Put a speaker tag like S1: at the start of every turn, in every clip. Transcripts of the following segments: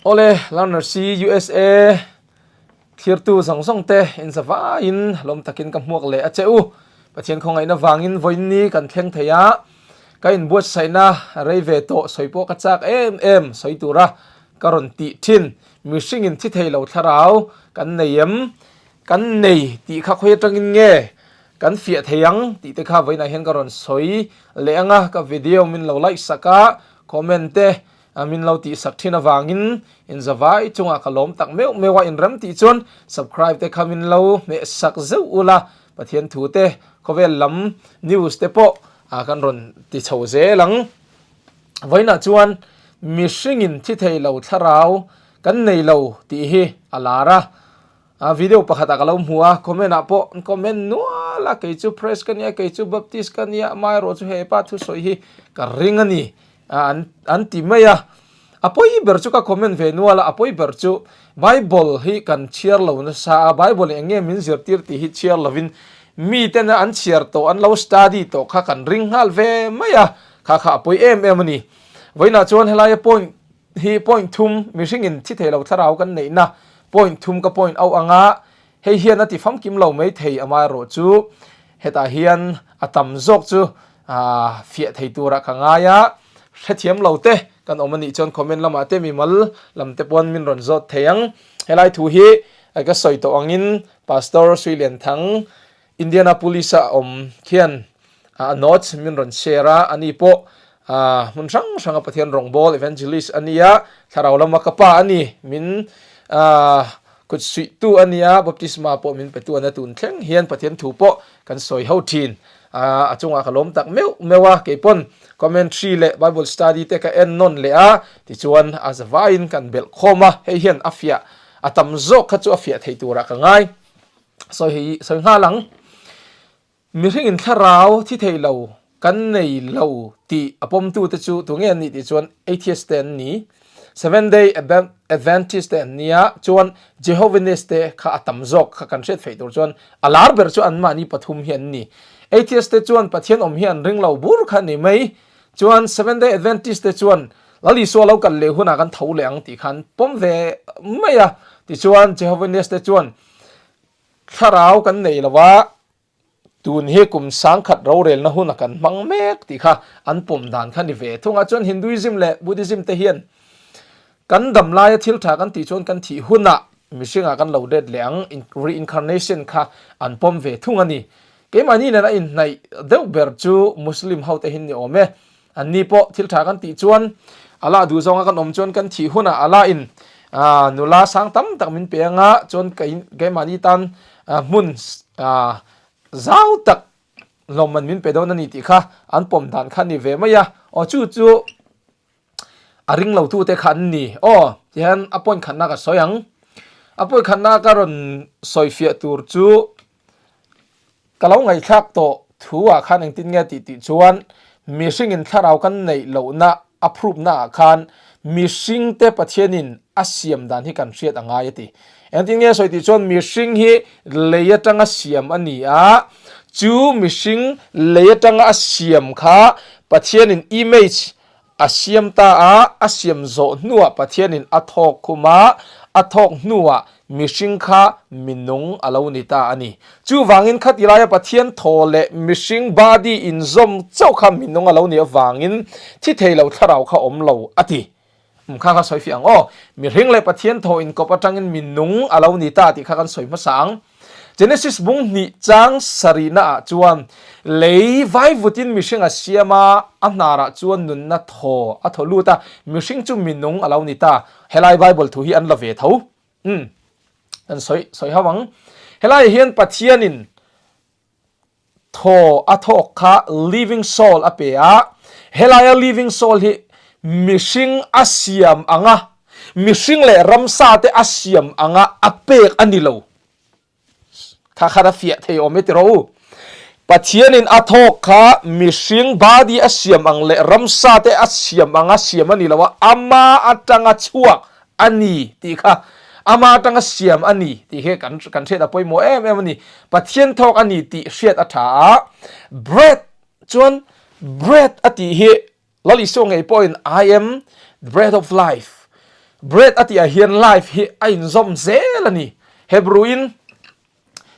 S1: Awle learners hi usa thirtu zawng zawng te inza vaiin lawm takin ka hmuak leh a che u. Pathian khawngaihna vangin vawi ni kan thleng thei a, ka inbuatsaihna rei ve tawh sawi pawh ka chak em em sawi tura ka rawn tih thin. Mihringin thi thei lo thlarau kan nei em? Kan nei tih kha khawi atangin nge kan fiah thei ang? tih te kha vawiinah hian ka rawn sawi leh ang a, ka video min lo like sak a, comment te A min lo tih sak thin avangin in zavai chungah ka lawm tak meuh meuh a, in rem tih chuan subcribe te kha min lo hmeh sak zeuh ula, Pathian thu te, khawvel lam news te pawh a kan rawn ti chho zel ang. Vawiinah chuan mihringin thi theih lo thlarau kan nei lo tih hi a lar a. A video pakhat a ka lo hmu a, comment ah pawh an comment nual a, kei chu Praise ka nia, kei chu Baptist ka nia, a hmaerawh chu hei pa thusawi hi ka ring a ni an an ti mai a. A pawi ber chu ka comment ve nual a, a pawi ber chu Bible hi kan chhiar lo nasa a, Bible eng nge min zirtir tih hi chhiar lovin mitena an chhiar tawh an lo study tawh kha kan ring nghal ve mai a, kha kha a pawi em em a ni. Vawiinah chuan helaia point Hi point thum mihringin thi thei lo thlarau kan neihna point thum ka point auh ang a, hei hian a ti famkim lo mai thei amah erawh chu hetah hian a tam zawk chu fiah thei turah ka ngai a, hrethiam lo te kan awm a nih chuan comment lamah te mimal lam te paw'n min rawn zawt thei ang, helai thu hi ka sawi tawh angin Pastor Hruilenthang Indianapolis-a a awm khian a notes min rawn share a, ani pawh hmun hrang hranga Pathian rawngbâwl, evangelist, a ni a, thlarau lama ka pa a ni, min kutsuihtu a ni a, baptisma pawh min petu a ni a, tûn thleng hian Pathian thu pawh kan sawi ho ṭhin, a chungah ka lawm tak meuh meuh a, kei pawn commentary leh Bible study te ka en nawn leh a, tichuan a za vaiin kan belh khâwm a, hei hian a fiah a tam zâwk kha chu a fiah theih tûrah ka ngai. Sawi hi sawi nghal ang, mihringin thlarau thi thei lo, kan nei lo tih a pawmtu te chu tu nge an nih tih chuan Atheist te an ni, Seventh Day Adventist te an nia, chuan Jehovinist te kha a tam zawk kha kan hriat theih tur chuan a lar ber chu an mahni pathum hi an ni. Atheist te chuan Pathian awm hi an ring lo bur kha a ni mai, chuan Seventh Day Adventist te chuan Lal Isua lo kal leh hunah kan tho leh ang tih kha an pawm ve mai a, tichuan Jehovinist te chuan Thlarau kan neih lo a, tun hi kum sangkhat rorelna hun a kan hmang mek tih kha an pawm dan kha ni ve thung a. Chuan Hinduism leh Buddhism te hian kan damlaia thil tha kan tih chuan kan thih hunah mihringa kan lo det leh ang reincarnation kha an pawm ve thung a ni. Keimahni nen a inhnaih deuh ber chu Muslim ho te hin ni awm e. An ni pawh thil tha kan tih chuan a la duh zawnga kan awm chuan kan thih hunah a la in nula sang tam tak min pe a nga chuan kei keimahni tan hmun zau tak hlawm an min pe dawn a ni tih kha an pawm dan kha a ni ve mai a, aw chu chu a ring lo tu te kha an ni aw ti hian a point khatna ka sawi ang a point khatna ka rawn sawi fiah tur chu. Ka lo ngaihthlak tawh thu ah khan engtin nge tih tih chuan mihringin thlarau kan neih lohna a phrupna ah khan mihringte Pathianin a siam dan hi kan hriat a ngai a ti. Engtin nge sawi tih chuan mihring hi lei atanga siam a ni a, chu mihring lei atanga a siam kha Pathianin image, A siam ta a, a siam zawh hnuah Pathianin a thawk khum a, a thawk hnuah mihring kha minung a lo ni ta a ni. Chuvangin khatilaia Pathian thaw leh mihring body inzawm chauh kha minung a lo nih avangin thi thei lo thlarau kha awm lo a ti. Um kha kha sawifiah ang aw, mihring leh Pathian thaw inkawp atangin minung a lo ni ta tih kha kan sawi hmasa ang. Genesis bung hnih chang sarihna ah chuan lei vai vut in mihring a siam a, a hnar ah chuan nunna thaw a thaw lut a, mihring chu minung a lo ni ta. Helai Bible thu hi an la ve tho. Umm. Kan sawi sawi ho ang. Helai ah hian Pathian in. thaw a thawk kha living soul a pe a, helaia living soul hi mihring a siam anga mihring leh ramsa te a siam anga a pek a ni lo. Kha khan a fiah thei awm e ti rawh u. Pathianin a thawk kha mihring body a siam ang leh ramsa te a siam anga siam a ni lo a, ama atanga chhuak A ni tih kha Ama atanga siam a ni tih hi kan kan hriat a pawimawh em em a ni. Pathian thawk a ni tih hriat a tha a. Bread chuan Bread a tih hi Lal Isua ngei pawhin I am the bread of life, Bread a tih ah hian life hi a inzawm zel a ni. Hebrew in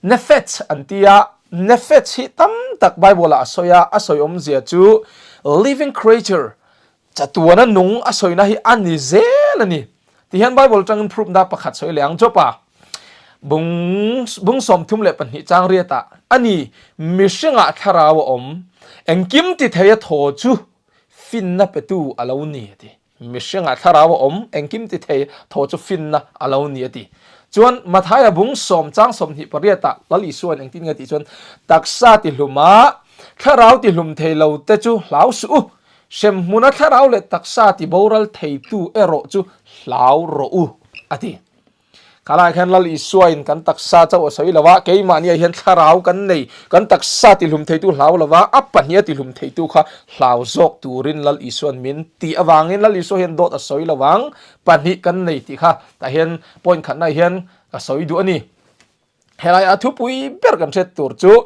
S1: Nephets an ti a, Nephets hi tam tak Bible ah a sawi a, a sawiawmzia chu living creature, Chatuana nung a sawina hi a ni zel a ni. Ti hian Bible atangin proof na pakhat sawi leh ang. Jopa bung bung sawmthum leh pahnih chang riatah a ni mi hrengah thlarau a awm. Engkim ti theia thaw chu finna petu a lo ni a ti. Mi hrengah thlarau a awm, engkim ti thei thaw chu finna a lo ni a ti. Chuan Mathaia bung sawm chang sawmhnih pariatah Lal Isua-in engtin nge tih chuan, Taksa tihlumah thlarau tihlum thei lo te chu hlau suh u, Hrem hmuna thlarau leh taksa ti boral theitu erawh chu hlau rawh u a ti. Kha lai khan Lal Isuain kan taksa chauh a sawi lova, keimahniah hian thlarau kan nei, kan taksa tihlum theitu hlau lova, a pahniha tihlum theitu kha hlau zawk turin Lal Isuan min ti avangin Lal Isua hian dawt a sawi lovang pahnih kan nei tih kha tah hian point khatnaah hian ka sawi duh a ni. Helai a thupui ber kan hret tur chu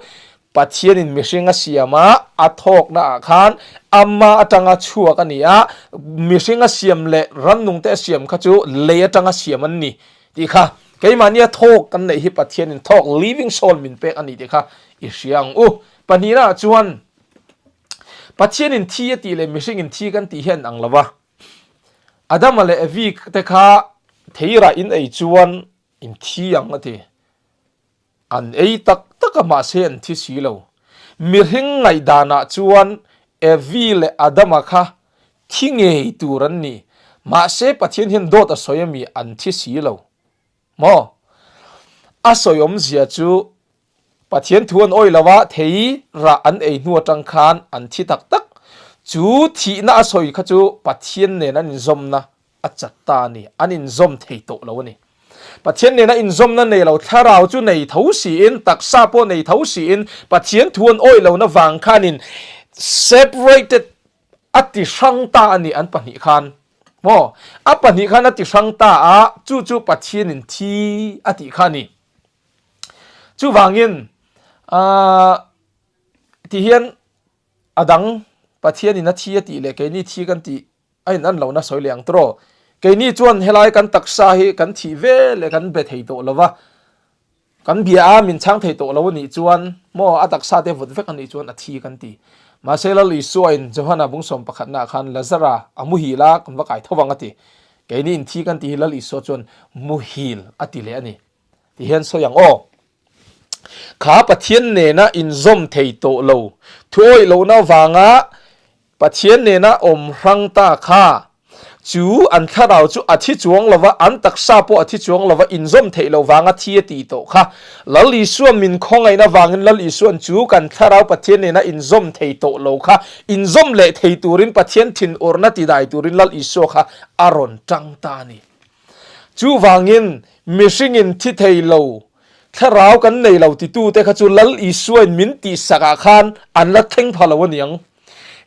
S1: Pathianin mihring a siam a, a thawknaah khan Ama atanga chhuak a ni a, mihring a siam leh rannungte a siam kha chu lei atanga siam an ni tih kha keimahnia thawk kan neih hi Pathianin thawk living soul min pek a ni tih kha i hria ang u. Pahnihnah chuan Pathianin thi a tih leh mihringin thi kan tih hi a in ang lo va. Adama leh Evite kha thei rah in ei chuan In thi ang a ti. An ei tak tak a mahse an thi si lo. Mihring ngaihdanah chuan Evi leh Adama kha thi ngei tur an ni. Mahse Pathian hian dawt a sawi a mi an thi si lo maw? A sawiawmzia chu Pathian thu an awih lo a, thei rah an ei hnu atang khan an thi tak tak. Chu thihna a sawi kha chu Pathian nen an inzawmna a chat ta a ni, an inzawm thei tawh lo a ni. Pathian nen a inzawmna nei lo thlarau chu nei tho siin, taksa pawh nei tho siin Pathian thu an awih lohna vang khanin separated a ti hrang ta a ni an pahnih khan maw? A pahnih khan a ti hrang ta a, chu chu Pathianin thi a tih kha a ni. Chuvangin, aah, tihian a dang, Pathianin a thi a tih leh keini thi kan tih a in'an lohna sawi leh ang tur aw. Keini chuan helai kan taksa hi kan thih ve leh kan be thei tawh lova, kan bia a min chhang thei tawh lo a nih chuan maw a taksa te vut vek a nih chuan a thi kan ti. Mahse lal Isuain Johana bung sawm pakhatna ah khan Lazara a muhil a kan va kai tho vang a ti. Keini in thi kan tih hi lal Isua chuan muhil a ti leh a ni. Ti hian sawi ang aw. Kha Pathian nena inzawm thei tawh lo thuawih lohna vanga Pathian nena awm hrang ta kha chu an thlarau chu a thi chuang lova, an taksa pawh a thi chuang lova inzawm theih lo vanga thi a ti tawh kha. Lal Isua min khawngaihna vangin Lal Isuan chu kan thlarau Pathian nena inzawm thei tawh lo kha inzawm leh thei turin Pathian thinawrhna tidai turin Lal Isua kha a rawn tang ta a ni. Chuvangin, mihringin thi thei lo, thlarau kan nei lo titute kha chu Lal Isua'n min tih sakah khan an la thleng pha lo a ni ang.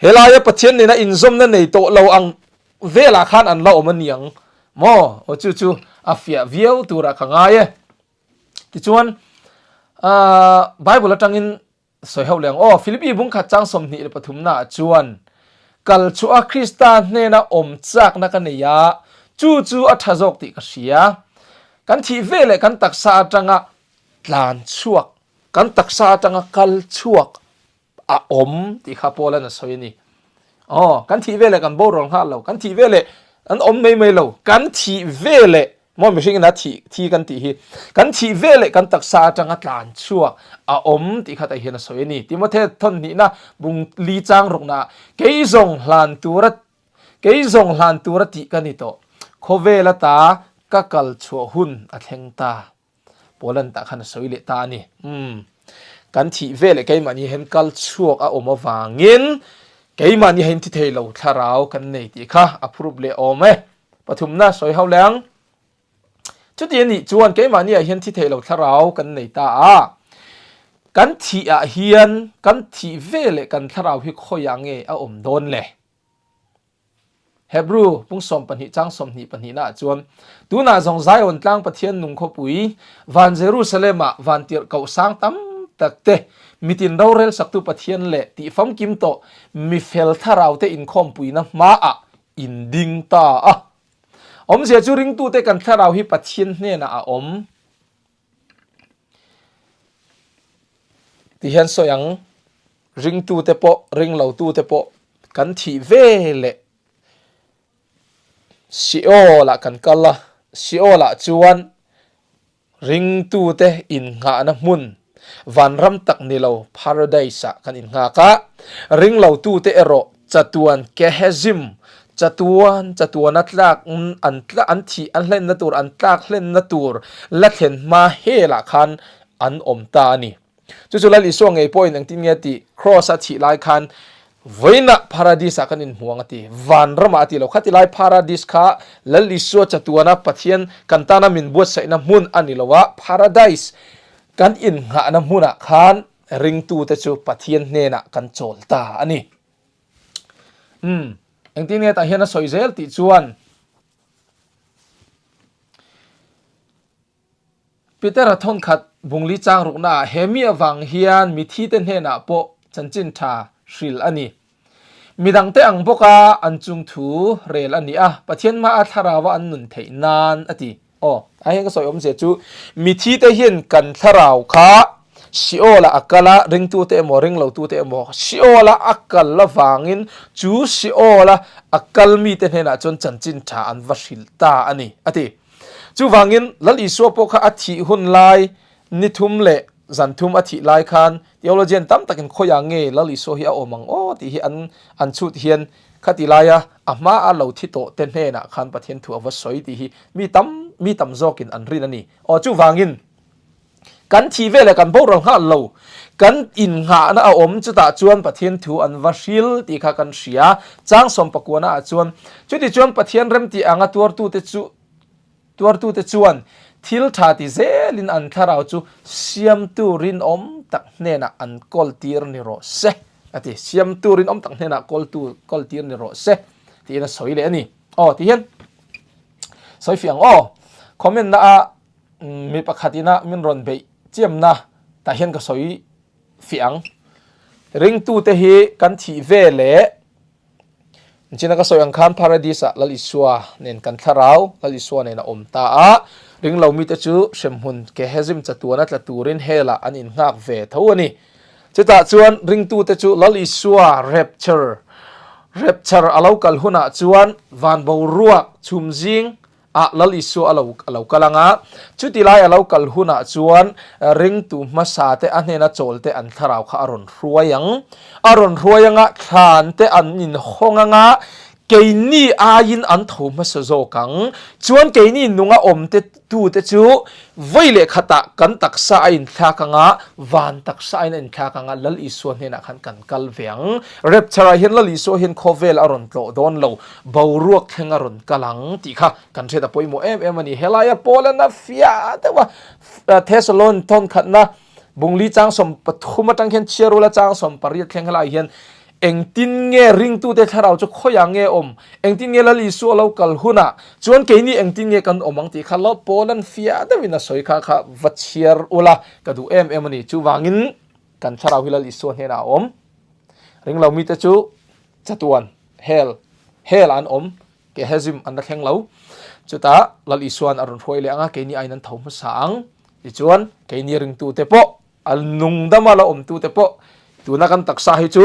S1: Helaia Pathian nena inzawmna nei tawh lo ang velah khan an la awm a ni ang maw? Aw, chu chu a fiah viau turah ka ngai e. Tichuan, Bible atangin, Sawi ho leng aw, Filipi bung khat chang sawmhnih leh pathum naah chuan kal chhuah a Krista hnena awm chakna ka nei a, chu chu a tha zawk tih ka hria. Kan thih ve leh kan taksa atanga tlan chhuak. Kan taksa atanga kal chhuak a awm tih kha Paul'n a sawi a ni. Aw, kan thih ve leh kan borawl nghal lo, kan thih ve leh kan awm mai mai lo, kan thih ve leh Maw mihring ina thih thi kan tih hi kan thih ve leh kan taksa atanga tlan chhuak a awm tih khatah hian a sawi a ni. Timothy thawnnihna bung li chang rawkna kei zawng hlan tur a kei zawng hlan tur a tih ka ni tawh. Khawvel ata ka kal chhuah hun a thleng ta. Poland tah khan a sawi leh ta a ni. Umm. Kan thih veleh keimahni hian kal chhuak a awm avangin keimahni hian thi thei lo thlarau kan nei tih kha a phurup leh awm e. Pathumna sawi hauh leh ang. Chuti a nih chuan keimahni ah hian thi thei lo thlarau kan nei ta a. Kan thih ah hian kan thih veleh kan thlarau hi khawiah nge a awm dawn le? Hebru pung sawm pahnih chang sawm hnih pahnihna ah chuan, Tunah zawng Zion tlang Pathian nung khawpui, van Jerusalem ah van tirh kohhsang tam tak te, mitin rorel saktu Pathian leh tih famkim tawh mifel thlarau te inkhawm puina hma ah in ding ta a. Awmzia chu ringtute kan thlarau hi Pathian hnenah a awm. Ti hian sawi ang, ringtute pawh, ring lo tute pawh kan thih ve leh Sheol ah kan kal a, Sheol ah chuan ringtute inngahna hmun vanram tak ni lo Paradise ah kan inngak a, ring lo tute erawh Chatuan Kehezim, Chatuan, Chatuan a tlak an tlak an thih an hlenna tur an tlak hlenna tur la thlen hma helah khan an awm ta a ni. Chu chu la Isua ngei pawhin engtin nge a ti? Kraws a thih lai khan vawiinah Paradis-ah kan inhmuang a ti. Vanramah a ti lo. Khatilai Paradis kha la Isua chatuana Pathian kan tana min buatsaihna hmun a ni lo a, Paradise kan innghahna hmunah khan Ringtute chu Pathian hnenah kan chawl ta a ni. Umm, engtin nge tah hian a sawi zel tih chuan Pitera thawnkhat bungli changruknaah he mi avang hian mithite hnenah pawh chanchin tha hril a ni. Mi dangte ang bawka an chung thu rel a ni a, Pathian hma a thlarauva an nun theih nan a ti. Aw, a heng ka sawi awmzia chu mithi te hian kan thlarau kha Sheol-a a kal a, ringtute emaw ringlotute emaw Sheol-a a kal avangin chu Sheol-a a kal mite hnenah chuan chanchin tha an va hrilh ta a ni a ti. Chuvangin Lal Isua pawh kha a thih hun lai Ni thum leh zan thum a thih lai khan theologian tam takin khawi ang nge Lal Isua hi a awm ang aw tih hi an an chut hian kha ti lai a, a hma a lo thi tawh te hnenah khan Pathian thu a va sawi tih hi mi tam mi tam zawkin an rin a ni. Aw chuvangin kan thih veleh kan borual nghal lo kan innghahna a awm chutah chuan Pathian thu an va hril tih kha kan hria. Chang Sawmpakuana ah chuan, Chutichuan Pathian remti anga tuartute chu, Tuartute chuan thil tha ti zelin an thlarau chu siamtu rinawm tak hnenah an kawl tir ni rawh se a ti. Siamtu rinawm tak hnenah kawltu kawl tir ni rawh se tiin a sawi leh a ni. Aw tihian sawifiah ang aw. Comment na a mi pakhatin a min rawn beih chiamna tah hian ka sawi fiah ang. Ringtute hi kan thih ve leh Chin a ka sawi ang khan Paradise ah Lal Isua nen kan thlarau, Lal Isua nen a awm ta a, ring lo mite chu hremhmun Gehasim chatuan a tla turin hell ah an inhngak ve tho a ni. Chutah chuan ringtute chu Lal Isua Rapture, Rapture, a lo kal hunah chuan van boruak chhum zing A Lal Isua a lo a lo kal ang a, chuti lai a lo kal hunah chuan ringtu hmasa te a hnena chawl te an thlarau kha a rawn hruai ang. A rawn hruai anga thlan te an inhawng ang a, keini aiin an tho hmasa zawk ang. Chuan keini nunga awm te tu te chu vawi leh khatah kan taksa a inthlak ang a, van taksa aiin a inthlak ang a, Lal Isua hnenah khan kan kal ve ang. Rapture ah hian Lal Isua hian khawvel a rawn tlawh dawn lo, Boruak thleng a rawn kal ang tih kha kan hriat a pawimawh em em a ni. Helaia Poland a fia deuha Thessalon thawnkhatna bungli changsawm pathum atang khian chhiarula changsawm pariat thleng helai hian engtin nge ringtute thlarau chu khawiah nge awm, engtin nge Lal Isu a lo kal hunah chuan keini engtin nge kan awm ang tih kha lo Poland fia deuhin a sawi kha kha va chhiar ula ka duh em em a ni. Chuvangin kan thlarau hi Lal Isua hnenah a awm ringlo mite chu. Chatuan, Hell, Hell-ah an awm, Gehesim an la thleng lo. Chutah Lal Isua'n a rawn hruai leh anga keini aiin an tho hmasa ang. Tichuan keini ringtute pawh, a nungdama la awmtute pawh tuna kan taksa hi chu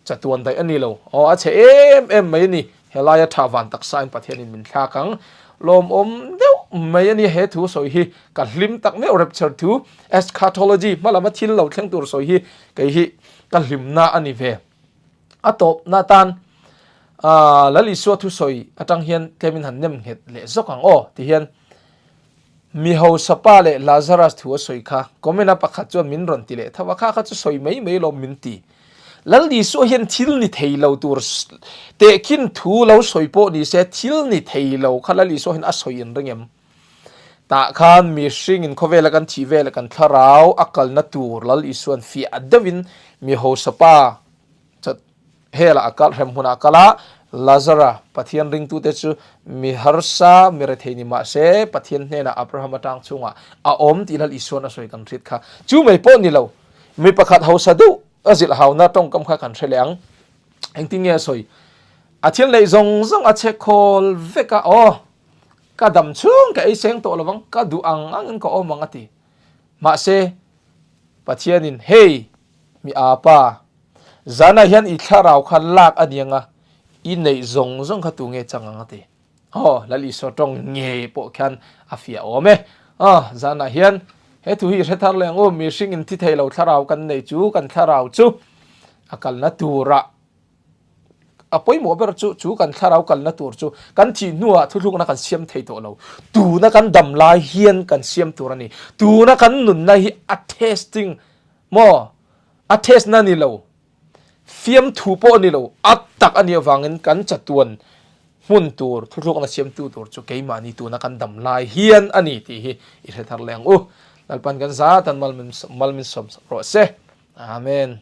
S1: chatuan daih a ni lo. Aw, a chhe em em mai a ni. Helaia tha van taksain Pathianin min thlak ang. Lawmawm deuh mai a nia he thu sawi hi. Ka hlim tak meuh rapture thu, eschatology, hma lama thil lo thleng tur sawi hi kei hi ka hlimna a ni ve. A tawpna atan Lalisua thusawi atang hian tlemin han nem nghet leh zawk ang aw ti hian mi hausa pa leh Lazarus thu a sawi kha comment a pakhat chuan min rawn ti leh tho a kha kha chu sawi mai mai alawm min ti. Lalisua hian thil ni thei lo tur tehkhin thu lo sawi pawh nise thil ni thei lo kha Lalisua hian a sawi inring em? Tah khan mihringin khawvela kan thih vel kan thlarau a kalna tur Lal Isua'n fiah deuhin mi hausapa chat hela a kal hrem huna a kal a. Lazara Pathian ringtute chu mi harsa mi rethei ni mah se Pathian hnena Abraham atang chungah a awm tih Lal Isua'n a sawi kan hriat kha. Chu mai pawh ni lo, mi pakhat hausa deuh a zilh hauna tawngkam kha kan hre leh ang. Engtin nge a sawi? A thil neih zawng zawng a che khawl vek a aw. Ka dam chhung ka ei seng tawh lovang, ka duh ang angin ka awm ang a ti. Mahse, Pathianin, Hei, mi aa pa, zanah hian i thlarau kha lak a nia nga, i neih zawng zawng kha tu nge chang ang a ti. Aw, Lalisua tawng nge pawh khian a fiah awm e. Aw, zanah hian he thu hi i hre thar leh ang u, mihring in thi thei lo thlarau kan nei chu, kan thlarau chu a kalna turah, A pawimawh ber chu chu kan thlarau kalna tur chu kan thih hnuah thuhlukna kan siam thei tawh lo. Tuna kan dam lai hian kan siam tur a ni. Tuna kan nunna hi a testing maw a testna ni lo, fiamthu pawh a ni lo, a tak a nih avangin kan chatuan hmun tur thuhlukna siamtu tur chu keimahni tuna kan dam lai hian a ni tih hi i hre thar leh ang u. Lalpan kan zat an mal malminsawm rawh se. Amen.